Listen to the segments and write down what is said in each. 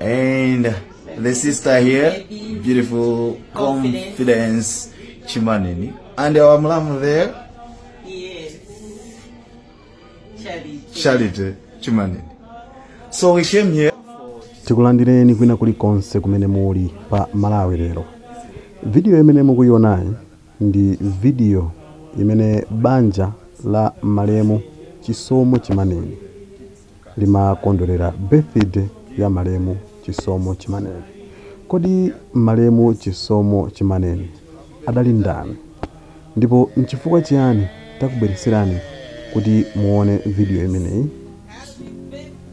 And the sister here, beautiful Confidence. confidence Chimaneni. And our mlamu there, Yes. Charity. Charity Chimaneni. So we came here. tikulandireni kwina kulikonse kumene muli pa malawi lero vidiyo imene mukuionayi ndi vidiyo imene banja la malemu chisomo chimaneni limakondwerera birthday ya malemu Chisomo Chimaneni. Kodi malemu Chisomo Chimaneni adali ndani? Ndipo n'chifukwa chiyani takubweretserani kuti muone video imeneyi?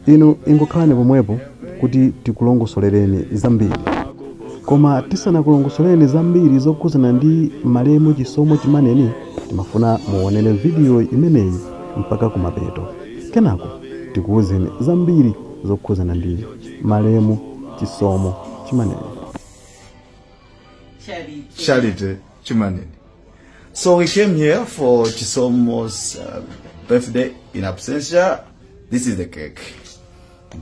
Inu ingokhalani pomwepo kuti tikulongosolereni zambiri. Koma tisanakulongosolereni zambiri zokhudzana ndi malemu Chisomo Chimaneni, timafuna muonere video imeneyi mpaka kumapeto. Kenako tikuuzeni zambiri zokhuzana ndi malemu Chisomo Chimaneni. Charity. Charity Chimaneni. So we came here for Chisomo's uh, birthday in absentia. This is the cake.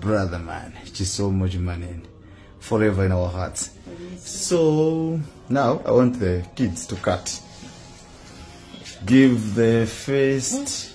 Brother man, Chisomo Chimaneni. Forever in our hearts. So now I want the kids to cut. Give the first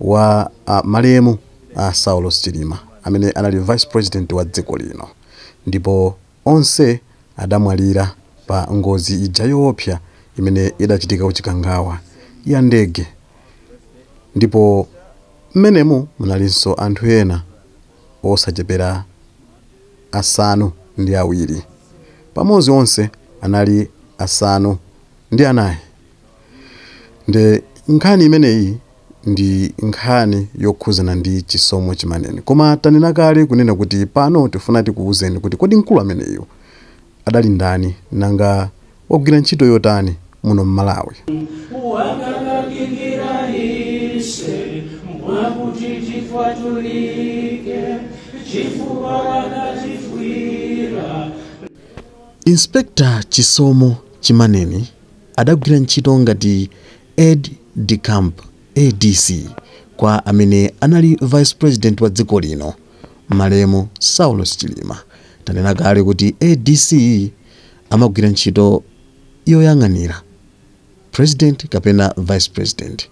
wa a malemu a Saulos Chilima amene anali vice president wa dziko lino ndipo onse adamwalira pa ngozi ija yoopsa imene idachitika ku Chikangawa ya ndege ndipo mmenemu munalinso anthu ena osachepera asanu ndi awiri pamodzi onse anali asanu ndi anayi. nde nkhani imeneyi ndi nkhani yokhuzana ndi chisomo chimaneni koma tanena kale kunena kuti pano tifuna tikuwuzeni kuti kodi mkulu ameneyo adali ndani nanga wagwira ntchito yotani muno m'malawi wakakakikira ise mwakuti tikwatulike chifukwa wakatifwira Inspector Chisomo Chimaneni Adagwira ntchito ngati Aide-de-Camp, ADC, kwa amene anali Vice President wa dziko lino, malemu Saulos Chilima. Tanena kale kuti ADC amagwira ntchito yoyang'anira President kapena Vice President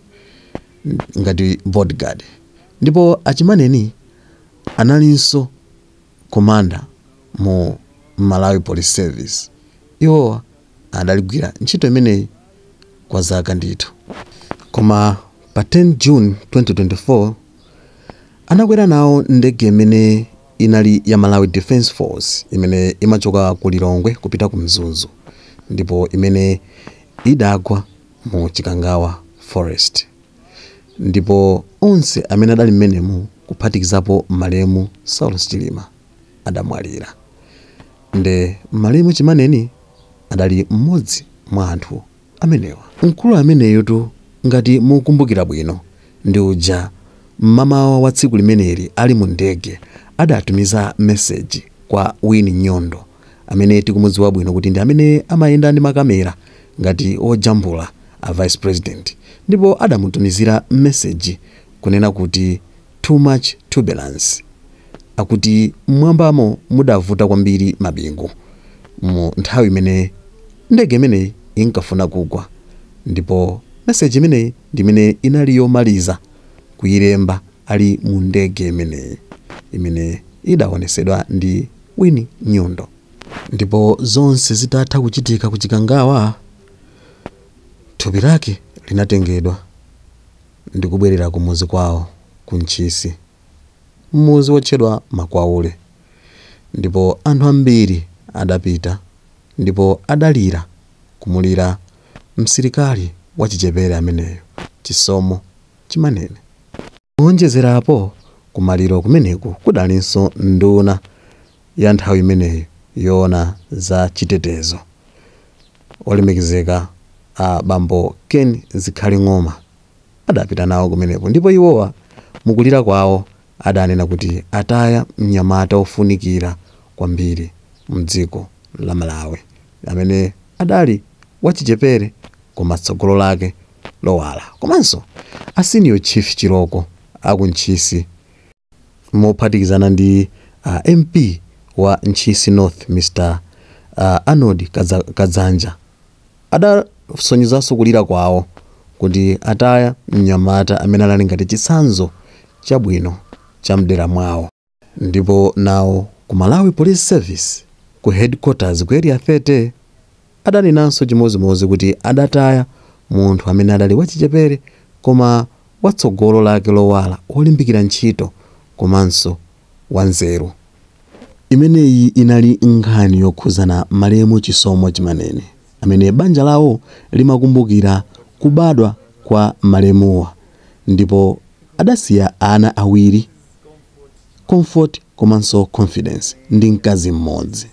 ngati bodyguard. Ndipo a Chimaneni analinso Commander mu Malawi Police Service. Iwowa. Adaligwira ntchito imeneyi kwa zaka ndithu. Koma pa 10 June 2024, anakwera nawo ndege imene inali ya Malawi Defence Force imene imachoka ku Lilongwe kupita ku Mzuzu ndipo imene idagwa mu Chikangawa Forest. Ndipo onse amene adali mmenemu kuphatikizapo malemu Saulos Chilima. adamwalira nde malemu Chimaneni adali mmodzi mwa anthu amenewa. Mkulu ameneyotu ngati mukumbukira bwino ndi uja mmamawa wa tsiku limeneli ali mu ndege adatumiza message kwa Winnie Nyondo amene tikumudziwa bwino kuti ndi amene amayenda ndi makamera ngati ojambula a Vice President ndipo adamutumizira message kunena kuti too much turbulence. Akuti m'mwambamo mudavuta kwambiri mabingu mu nthawi imene ndege imeneyi inkafuna kugwa ndipo message imeneyi ndi imene inali yomaliza kuilemba ali mu ndege imeneyi imene idaonesedwa ndi Winnie Nyondo. Ndipo zonse zitatha kuchitika ku Chikangawa, thupi lake linatengedwa. ndi kubwerera ku muzi kwawo ku Ntchisi, muzi wotchedwa Makwaule, ndipo anthu ambiri adapita ndipo adalira kumulira msilikali wachichepere ameneyo, Chisomo Chimaneni. Kuwonjezerapo, kumaliro kumeneku kudalinso nduna ya nthawi imeneyo yoona za chitetezo. Olemekezeka a bambo Ken Zikhale Ng'oma adapita nawo kumenepo ndipo iwowa mukulira kwawo adanena kuti ataya mnyamata wofunikira kwambiri mdziko la Malawi amene adali wachichepere koma tsogolo lake lowala komanso a Senior Chief Chilooko a ku Ntchisi mophatikizana ndi a MP wa Ntchisi North Mr Arnold Kadzanja adasonyezanso kulira kwawo kuti ataya mnyamata amene anali ngati chitsanzo chabwino cha mdera mwawo. Ndipo nawo ku Malawi Police Service ku Headquarters ku Area 30, adanenanso chimodzimodzi kuti adataya munthu amene adali wachichepere koma watsogolo lake lowala, wolimbikira ntchito komanso wanzeru. Imeneyi inali nkhani yokhudzana malemu Chisomo Chimaneni amene banja lawo limakumbukira kubadwa kwa malemuwa ndipo adasiya ana awiri. comfort komanso confidence ndi mkazi mmodzi.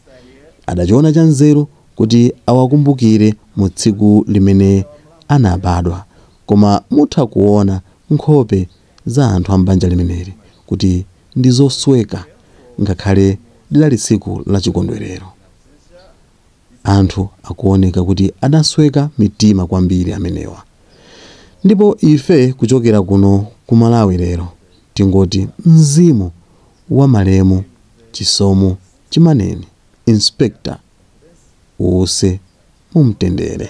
Adachiona chanzeru kuti awakumbukire mu tsiku limene anabadwa koma mutha kuona nkhope za anthu a m'banja limeneli kuti ndi zosweka ngakhale lidali tsiku la chikondwerero. Anthu akuwoneka kuti adasweka mitima kwambiri amenewa. Ndipo ife kuchokera kuno ku Malawi lero tingoti mzimu wa malemu Chisomo Chimaneni, Inspector, uwuse mu mtendere.